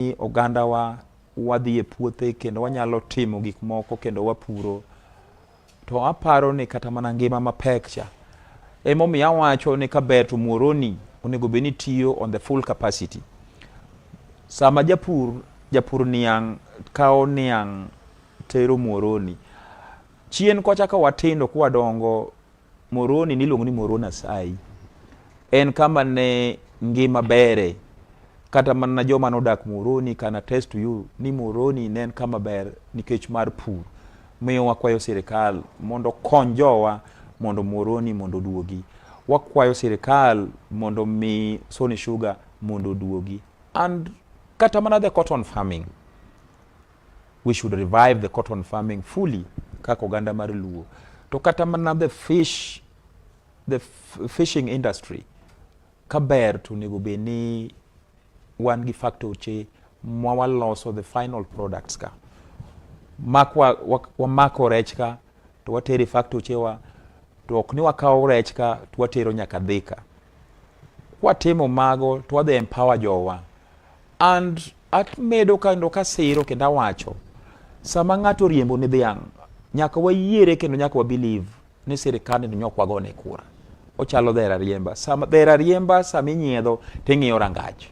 ni ogandawa wadhi e puothe kendo wanyalo timo gik moko kendo wapuro to aparo ni kata mana ngima mapek cha emomiyo awacho ni kaber to muoroni onego bed ni tiyo on the full capacity sama japur japur niang' kawo niang' tero muoroni chien kocha ka watindo kwadongo Moroni niluongo ni Moroni Asai. En kama ne ngima bere. Kata mana joma nodak Moroni can attest to you ni Moroni ne en kama ber nikech mar pur. Miyo wakwayo sirikal mondo kony jowa mondo Moroni mondo oduogi. Wakwayo sirikal mondo mi Sony Sugar mondo oduogi. And kata mana the cotton farming. We should revive the cotton farming fully kaka oganda mar Luo. To kata mana the fish the fishing industry kaber to onego bed ni wan gi factoche ma waloso the final products ka mak wamako wa, wa rech ka to watere factoche wa to ok ni wakawo rech ka to watero nyaka Thika. Kwatimo mago to wadhi empower jowa and Amedo kendo kasiro kendo awacho sama ng'ato riembo ni dhiang' nyaka wayiere kendo nyaka wabiliv ni sirikande ni nyok wagone kura ochalo dhera riemba sama dhera riemba sama inyiedho ting'iyo rangach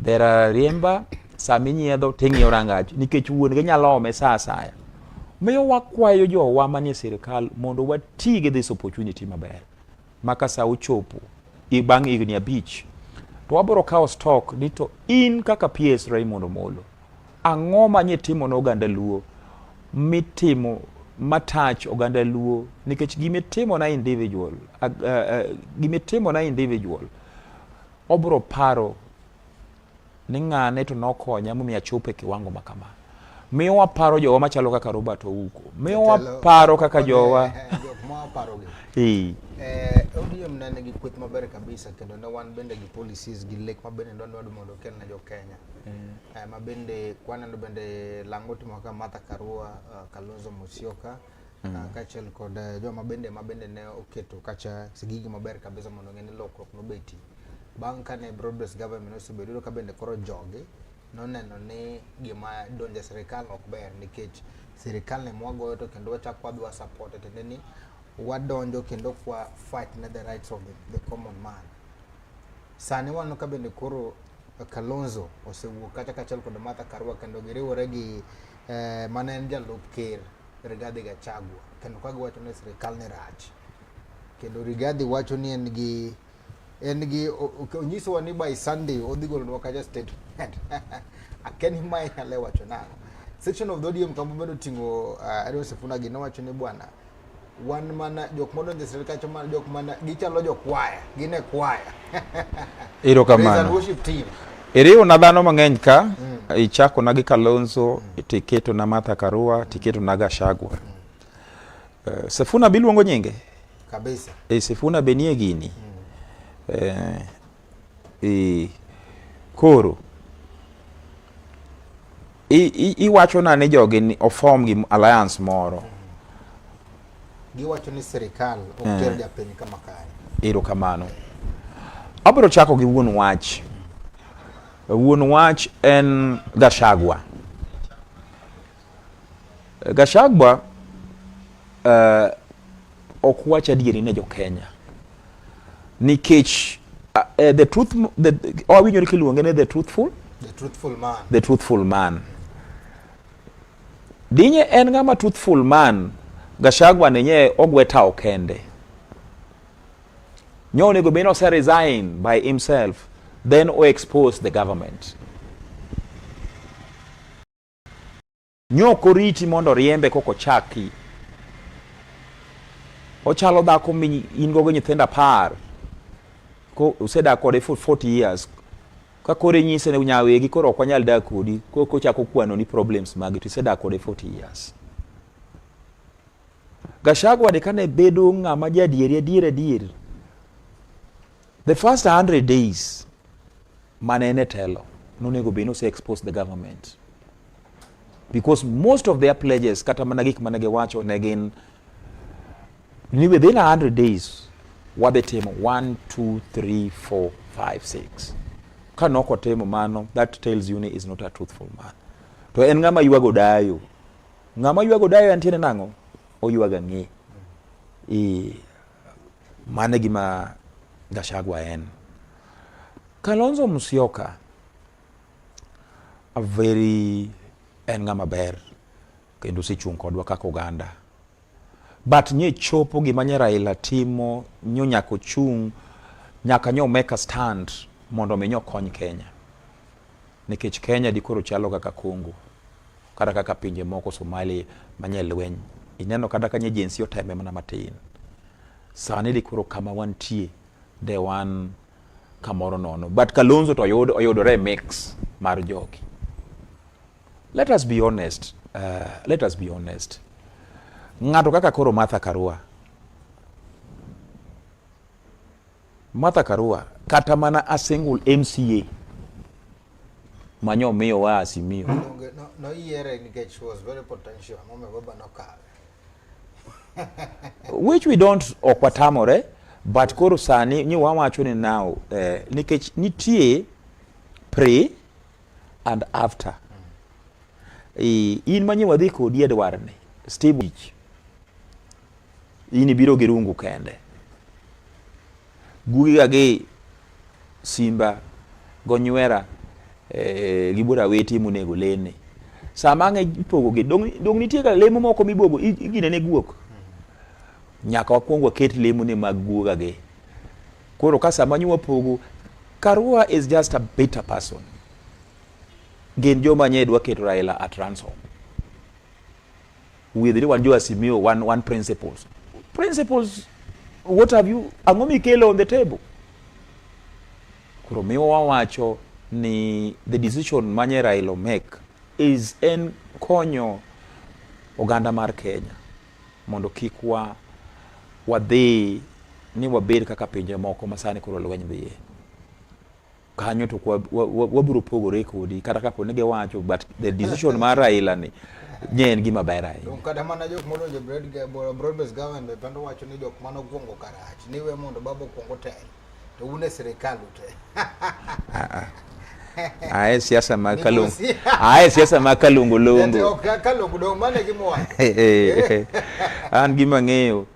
dhera riemba sama inyiedho ting'iyo rangach nikech wuon gi nyalo ome sa asaya miyo wakwayo jowa manie sirikal mondo wati gi this opportunity maber ma ka sa ochopo bang' higni abich to wabiro kawo stock ni to in kaka PS Raymond Omolo ang'o ma nye timo ne oganda Luo mitimo matach oganda Luo nikech gimitimo na individual uh, uh, gimitimo na individual obro paro Ni ng'ane to nokonya momiyo achopo e kiwango ma kama. Miyo waparo jowa machalo kaka Robert Ouko. Miyo waparo kaka jowa. Eh, eh, ODM ne nigi kweth maber kabisa kendo ne wan bende gi policies gi lek ma bende ndwa ndwado mondo okel ne jo Kenya. Eh. Ma bende kwaneno bende lango timo kaka Martha Karua, Kalonzo Musyoka. Mm. Ah, kaachiel kod eh, joma bende ma bende ne oketo kacha sigigi maber kabisa mondo ng'e ni lokruok nobeti bang' kane broadbase government osebedo ka bende koro jogi noneno ni gima donjo e sirikal ok ber nikech sirikal ne mwagoyo to kendo wachak wadhi wasapot tiende ni wadonjo kendo kwa fight na the rights of the, the common man sani waneno ka bende koro Kalonzo osewuok kata kaachiel kod Martha Karua kendo giriwore gi eh, mane en jalup ker Rigathi Gachagua kendo ka giwacho ni sirkal ni rach kendo Rigathi wacho ni en gi en gi onyisowa ni by Sunday odhi golonwa kacha statement akia ni mae nyale wacho nang'o section of the ODM kama obedo ting'o uh, Edwin Sifuna gi nowacho ni bwana wan mana jok modonjo e sirkal kacho mana jok mana gichalo jo kwaya gin e kwaya ero kamano worship team iriwo na dhano mang'eny ka mm. ichako na gi Kalonzo mm. tiketo na Martha Karua tiketo na Gashagwa mm. uh, Sifuna biluongo nyinge kabisa e Sifuna benie gini mm. uh, Ee, koro iwachona ni jogi ofom gi alliance moro giwacho ni sirikal ok eh. ter japiny kama kare. Erokamano. Abiro chako gi wuon wach. Wuon wach en Gashagwa. Gashagwa uh, eh, ok wach adieri ne jokenya nikech uh, uh, the truth the, awinjore oh, kiluonge ni the truthful the truthful man, the truthful man. dinye en ng'ama truthful man Gashagwa nenye ogwe tawo kende nyo onego bed ni ose resign by himself then o expose the government Nyoko riti mondo riembe koko chaki. Ochalo dhako mi in gogo nyithindo apar. Ko usedak kode for 40 years. Ka kore nyise ne nyawegi koro ok wanyal dak kodi. Koko chako kwano ni problems magi to isedak kode 40 years. Gachagua de kane bedo ng'ama jadieri adier adier The first 100 days mane en e telo nonego be nose expose the government because most of their pledges kata mana gik mane giwacho ne gin ni within 100 days wadhi timo 1 2 3 4 5 6 ka nok otimo mano that tells you ni is not a truthful man to en ng'ama ywago dayo ng'ama ywago dayo antiere nang'o oywaga ng'e ee Mane gima Gashagwa en. Kalonzo Musyoka a very en ng'ama ber kendo osechung' kodwa kaka oganda but nye chopo gima nye Raila timo nyo nyaka ochung' nyaka nyo make a stand mondo mi nyo kony Kenya. Nikech Kenya dikoro chalo kaka Congo, kata kaka pinje moko Somali manye lweny. Ineno kata kanye jinsi oteme mana matin. Sani dikoro kama wantie de wan kamoro nono. But Kalonzo to oyud, oyudore mix mar jogi. Let us be honest. Uh, let us be honest. Ng'ato kaka koro Martha Karua Martha Karua kata mana a single MCA manyo miyo wa asimio. No yiere nikech she was very potential. Mama baba no kawe. Which we don't okwatamore but koro sani ni wawacho ni now eh, nikech nitie pre and after. Mm. E, in manyo wadhi kodi Edward ni Steve in ibiro gi rungu kende gugiga gi simba gonywera eh, gi bura weti monego lene sama ang'e ipogogi dong' nitie ga lemo moko mibogo igine ne guok nyaka wakwong waket lemo ne mag guoga gi koro ka sama nyo wapogo karua is just a bitter person gin joma nye dwa keto raila at ransom Wiye dhiri wan jo Asimio, wan, wan principles. Principles, what have you, ang'o mikelo on the table? Koro miwa wawacho ni the decision manye Raila make is en konyo oganda mar Kenya mondo kik wa wadhi ni wabed kaka pinje moko masani koro lweny dhiye. kanyo to wabiro pogore kodi kata kapo ni giwacho but the decision mar Raila ni nye en gima ber ahinya kata mana jok modonjo broad based government be pando wacho ni jok mano gwongo karach ni we mondo babo kwongo tel to un e sirikal ute ae siasa mag kalungu ae siasa mag kalungu lungu kalungu dong mane gimwacho an gima ng'eyo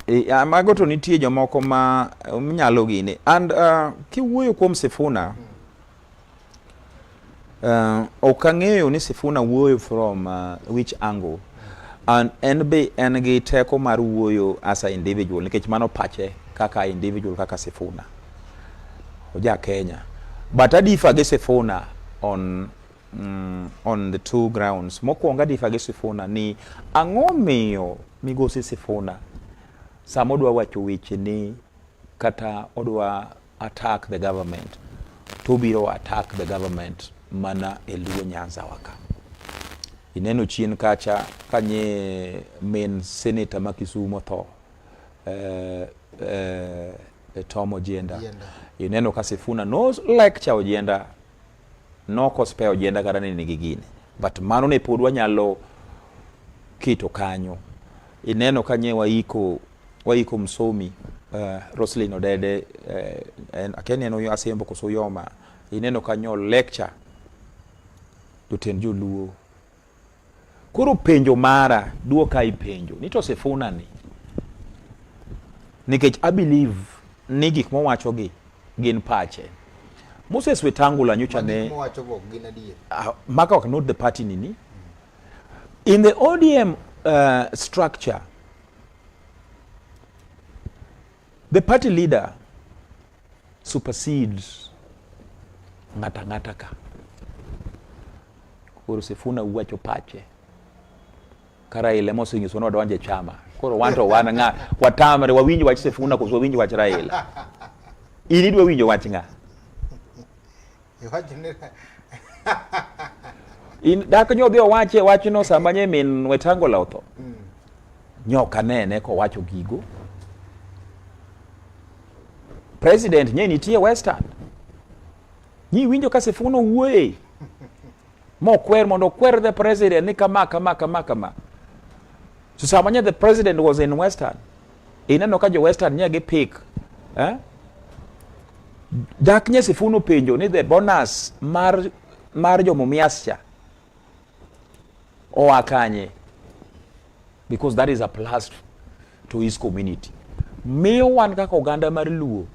e, mago to nitie jomoko ma um, nyalo gini and uh, kiwuoyo kuom Sifuna hmm. Uh, ok ang'eyo ni Sifuna wuoyo from uh, which angle and en be en gi teko mar wuoyo as a individual nikech mano pache kaka individual kaka Sifuna oja Kenya but adifa gi Sifuna on Mm, on the two grounds. Mokwongo adifa gi Sifuna ni ang'o miyo migosi Sifuna sama odwa wacho weche ni kata odwa attack the government to biro attack the government mana e Luo Nyanza waka. Ineno chien kacha kanye main senator ma Kisumo otho eh, eh, Tom Ojienda. Ineno ka Sifuna no lecture Ojienda Nok ospe ojenda kata ni nigi gine but mano ne pod wanyalo keto kanyo ineno ka nye waiko waiko msomi uh, eh, Roslyn Odede uh, eh, en akeni en uyo asembo koso yoma ineno kanyo lecture jotend joluo Koro penjo mara, duoka i penjo ni to Sifuna ni nikech I believe ni gik mowacho gi gin pache. Moses Wetangula nyocha ne ah, maka ok not the party nini in the ODM uh, structure the party leader supersede ng'ata ng'ata ka koro Sifuna uwacho pache kara ile mosinyiso no donje chama koro wan to wan nga watamre wawinj wach Sifuna koso wawinj wach Raila ini dwa winjo wach nga in dak nyo dhi owache wachno sama nye min wetangola otho mm. nyok anene kowacho gigo president nye nitie western nyi winjo ka sifuno wuoye mokwer mondo okwer the president ni kama kama kama kama so sama nye the president was in western Ineno ka jo western nye gi pick eh? Dak nye Sifunu penjo ni the bonus mar mar jo Mumias cha oa kanye because that is a plus to his community. Miyo wan kaka oganda mar Luo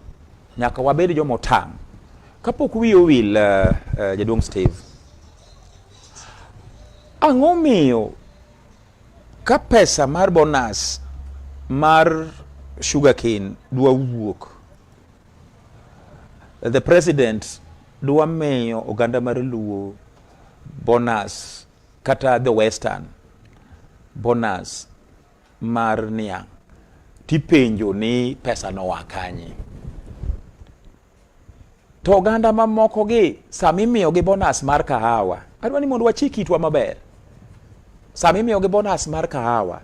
nyaka wabed jo motang' kapok wiye owil uh, uh, jaduong' Steve ang'o miyo Ka pesa mar bonus mar sugar cane dwa wuok, the president dwa miyo oganda mar Luo bonus kata the western bonus mar niang' tipenjo ni pesa noa kanye? To oganda mamokogi sama imiyogi bonas mar kahawa, adwa ni mondo wachik itwa maber. Sama imiyogi bonas mar kahawa,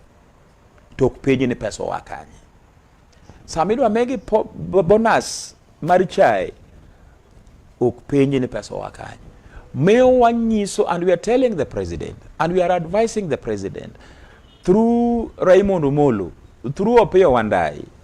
to ok penji ni pesa oa kanye. Sama idwa migi bonas mar chai, ok penji ni pesa oa kanye. Miyo wanyiso and we are telling the president and we are advising the president through Raymond Omolo, through Opiyo Wandayi,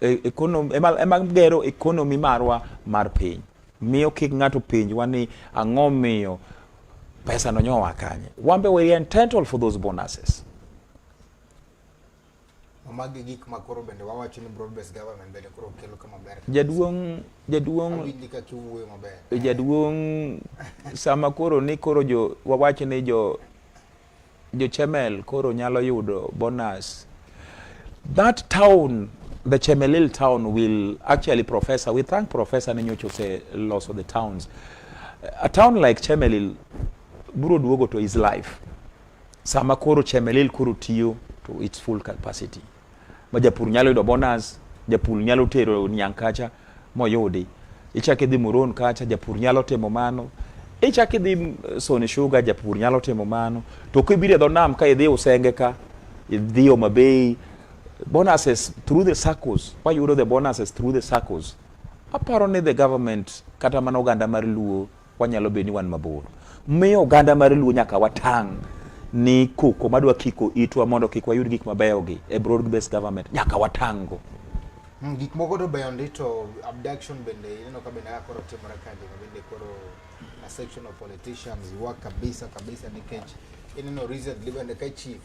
e, economy, ema, ema gero ekonomi marwa mar piny miyo kik ng'ato penjwa ni ang'o miyo pesa no nyowa kanye wambe we are entitled for those bonuses magi gik ma koro bende wawacho ni broad based government bende koro kelo kama ber jaduong jaduong jaduong sama koro ni koro jo wawacho ni jo jo chemel koro nyalo yudo bonus that town the chemelil town will actually professor we thank professor ni nyocha oseloso the towns a town like chemelil biro duogo to his life sama koro chemelil koro tiyo to its full capacity ma japur nyalo yudo bonus japur nyalo tero niang' kacha moyudi ichak idhi muron kacha japur nyalo timo mano ichak idhi eh, soni shuga japur nyalo timo mano to kibiro e dho nam ka idhi usenge ka idhi Homa Bay bonuses through the circles wayudo the bonuses through the circles aparo ni the government kata mana oganda mar luo Wanyalo bedo ni wan mabor. Miyo oganda mar Luo nyaka watang' ni koko madwa kiko itwa mondo kik wayud gik mabeyo gi e broad based government nyaka watango. Mm, gik moko to beyo ndi to abduction bende ineno ka bende koro timore ka joma bende koro a section of politicians yuak kabisa kabisa nikech ineno recently bende ka chief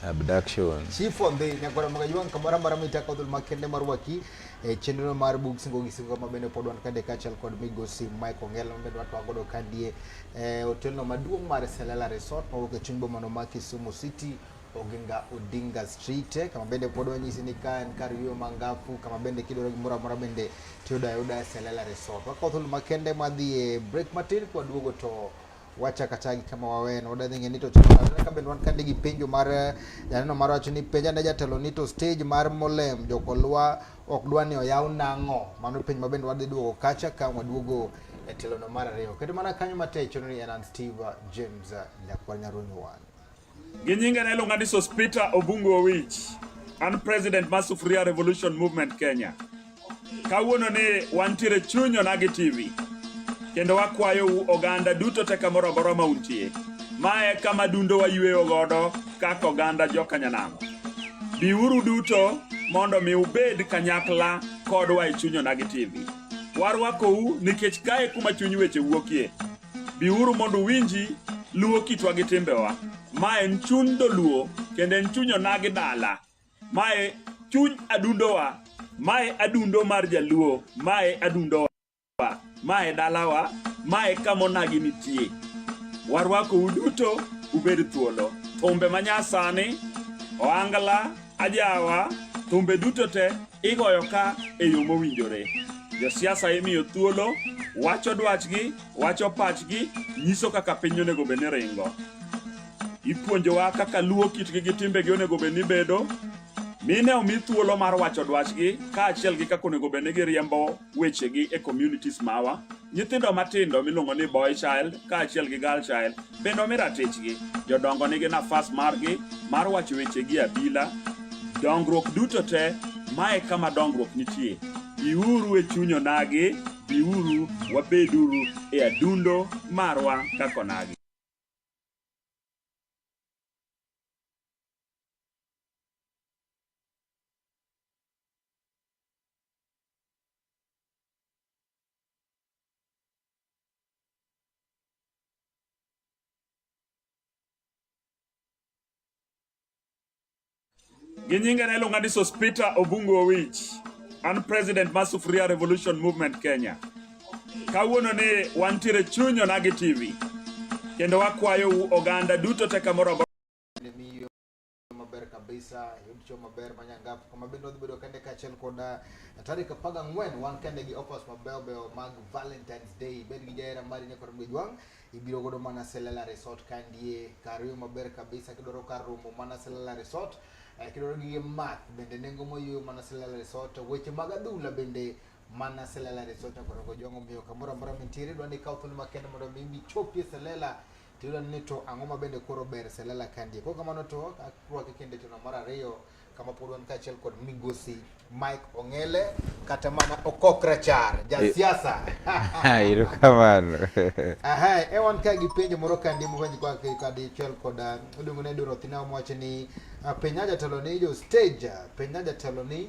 abduction chief ondhi nyakwara maga yuang kamora mara mita kodul makende marwaki e chenro mar bug singo gi singo ma bende pod wan kade kachal kod migosi Mike Ongela ma bende watwa godo kadie e otelno maduong' mar Selala Resort ma wuok e chuny bomano ma Kisumu City Oginga Odinga Street eh, kama bende pod wanyisi ni ka en kar yueyo mangafu kama bende kidwaro gimoro amora bende tiyudo ayuda e Selala Resort. Wakawo thuolo makende madhi e break matin kwaduogo to wacha kachagi kama waweno odadhi ng'e nito ka bende wan kande gi penjo mar eh, janeno mar wacho ni penja ne jatelo nito stage mar molem jokolwa ok dwa ni oyaw nang'o mano penj ma bende wadhi duogo kacha ka waduogo e telono mar ariyo kendo mana kanyo matechono ni en an steve james eh, nyakwar nyarunyuwan Gi nyinge ne iluonga ni Sospita Obungu Owich. An president mar Sufuria Revolution Movement Kenya. Kawuono ni wantiere chunyo na gi TV. Kendo wakwayo u oganda duto te kamoro amora ma untie. Ma e kama dundo wayueyo godo kaka oganda jokanyanamo. Biuru duto mondo mi ubed kanyakla kodwa e chunyo na gi TV. Warwakou nikech kae kuma chuny weche wuokie. Biuru mondo uwinji luo kitwa gi timbewa. Ma en chuny doluo kendo en chuny onagi dala. Mae chuny adundowa. Mae adundo mar jaluo. Mae adundowa. Mae dalawa. Mae kama onagi nitie. Warwakou duto ubed thuolo. Thumbe manyasani, ohangla, Ajawa, thumbe duto te igoyo ka e yo mowinjore. Josiasa imiyo thuolo, wacho dwachgi, wacho pachgi, nyiso kaka piny onego bed ni ringo. Ipuonjowa kaka luwo kitgi gi timbegi onego bed ni bedo, mine omi thuolo mar wacho dwachgi kaachiel gi kaka onego bed ni giriembo wechegi e communities mawa. Nyithindo matindo miluongo ni boy child kaachiel gi girl child bende omi ratichgi. Jodongo nigi nafas margi mar wacho wechegi abila. Dongruok duto te, mae kama dongruok nitie. Biuru e chuny onagi, biuru wabeduru e adundo marwa kaka onagi. gi nyinge ne iluonga ni Sospita Obungu Owich. An president mar Sufuria Revolution Movement Kenya. Kawuono ni wantiere chuny Onagi TV kendo wakwayou oganda duto te kamoro maber kabisa yud cho maber ma nyangafu kama bende wadhi bedo kende kaachiel kod ah, tarik apar gang'wen wan kende gi offers mabeyo beyo mag valentines day bed gi jahera mari ne kod mgejwang' ibiro godo mana selela resort kandie kar yo maber kabisa kidwaro kar romo mana selela resort eh, kidwaro gige math bende nengo moyweyo mana selela resort weche mag adhula bende mana selela re sota koro go jongo miyo kamoro amora mintiere dwa ni kaw thuolo makende mondo mi michopie selela tiyudo ni to ang'o ma bende koro ber selela kandie koro kamano to akwake kende tino mar ariyo kama pod wan kaachiel kod migosi mike ong'ele kata mana okok rachar jasiasa iro kamano aha e wan ka gi penjo moro kandie mopenj kwa kadichiel koda iluongo ni dorothina mowacho ni ah, penja jatelo ni jo stage penja jatelo ni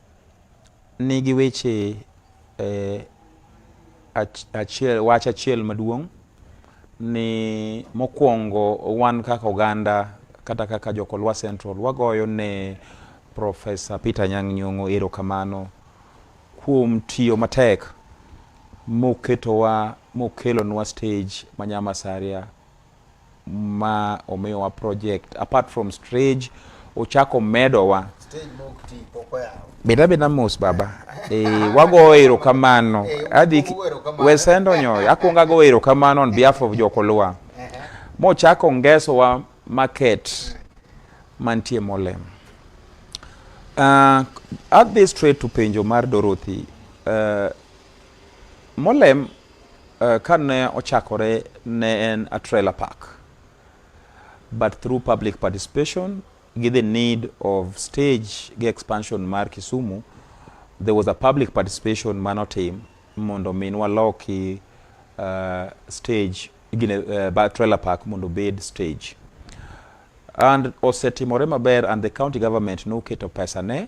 nigi weche eh, ach- achiel, wach achiel maduong' ni mokwongo wan kaka oganda kata kaka jokolwa central wagoyo ne profesa peter nyang' nyong'o erokamano kuom tiyo matek moketowa mokelonwa stage ma nyamasaria ma omiyowa project apart from stage ochako medowa beda beda mos baba e, wagoyo erokamano adhi wesendo nyoyo akwongo agoyo erokamano on behalf of jokoluwa mochako ngesowa market mantie molem uh, adhi straight to penjo mar dorothy uh, Molem uh, ka ne ochakore ne en a trailer park but through public participation gi the need of stage gi expansion mar Kisumu there was a public participation manotim mondo min waloki uh, stage gine, uh, trailer park mondo bed stage and osetimore maber and the county government noketo pesa ne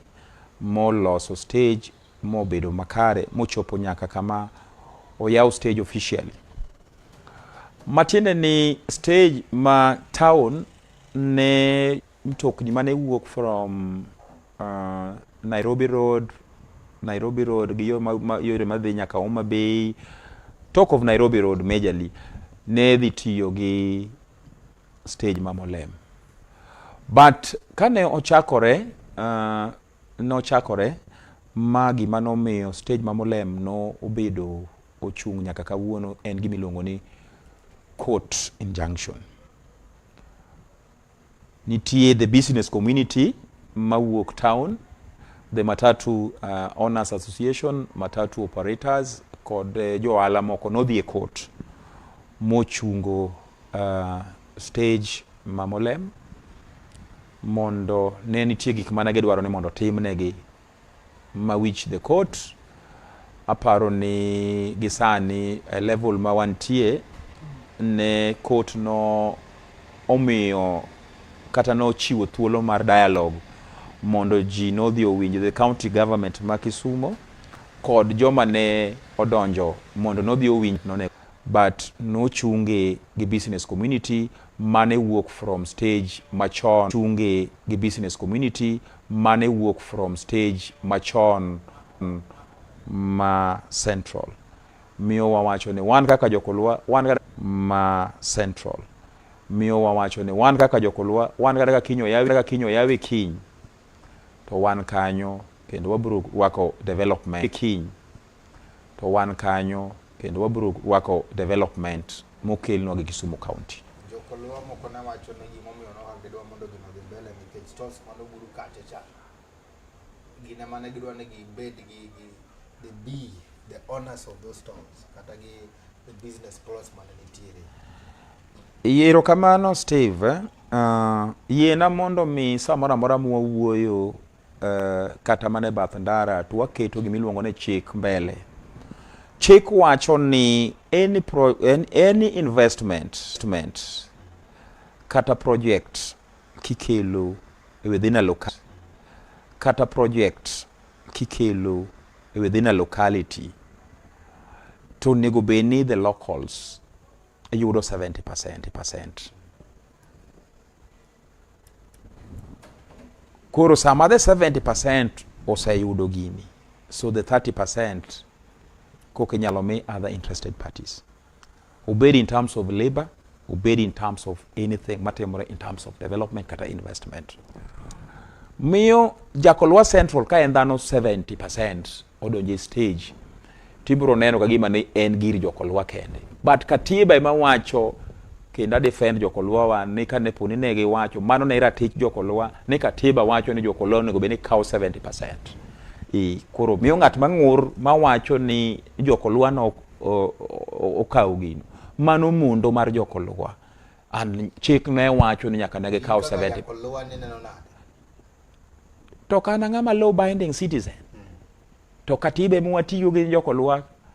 moloso stage mobedo makare mochopo nyaka kama oyaw stage officially matiende ni stage ma town ne mtokni mane wuok from uh, Nairobi Road Nairobi Road gi yore madhi nyaka Homa Bay talk of Nairobi Road majorly ne dhi tiyo gi stage ma Molem but kane ochakore uh, nochakore ma gima nomiyo stage ma Molem no obedo ochung' nyaka kawuono en gima iluongo ni court injunction. Nitie the business community mawuok town, the matatu uh, owners association, matatu operators kod uh, johala moko nodhi e court mochungo uh, stage ma Molem mondo ne nitie gik mane gidwaro ni mondo timnegi ma wich the court aparo ni gisani e level ma wantie ne court no omiyo kata nochiwo thuolo mar dialogue mondo ji nodhi owinj the county government ma Kisumo kod joma ne odonjo mondo nodhi owinj none but nochunge gi business community mane wuok from stage machon chunge gi business community mane wuok from stage machon mm, ma central miyo wawacho ni wan kaka jokolwa wan kaka ma central miyo wawacho ni wan kaka jokolwa wan kata ka kinyo yawi kaka kinyo yawi kiny to wan kanyo kendo wabro rwako development kiny to wan kanyo kendo wabiro rwako development mokelnwa gi Kisumu County. Jokoluo moko ne wacho ni gimomiyo ne ok gidwa mondo gino odhi mbele nikech tos mane oburu kacha cha gin ema ne gidwa ni gibed gi gi the be the owners of those towns kata gi the business plots mane nitiere. Yiero kamano Steve, uh, yiena mondo mi samoro amora mwawuoyo uh, kata mana e bath ndara to waketo gima iluongo ni chik mbele. Chik wacho ni any, pro, any, any investment, investment kata project kikelo e within a local kata project kikelo e within a locality to onego bed ni the locals yudo 70 percent. Koro sama the 70% oseyudo gini, so the 30% koka inyalo mi other interested parties. Obed in terms of labor, obed in terms of anything matimore in terms of development kata investment. Miyo Jakolwa Central ka en dhano 70% odonje stage tibro neno ka gima ni en gir jokolwa kende but katiba ema wacho kendo adefend jokolwa wa ni kane poni ne giwacho mano ne ratich jokolwa ni katiba wacho ni jokolwa onego bed ni kawo 70% i koro miyo ng'at mang'ur mawacho ni jokolwa no okawo gino mano mundo mar jokolwa and chik ne wacho ni nyaka ne gikaw 70 to kana ng'ama law binding citizen to katiba ema watiyo gi jokolwak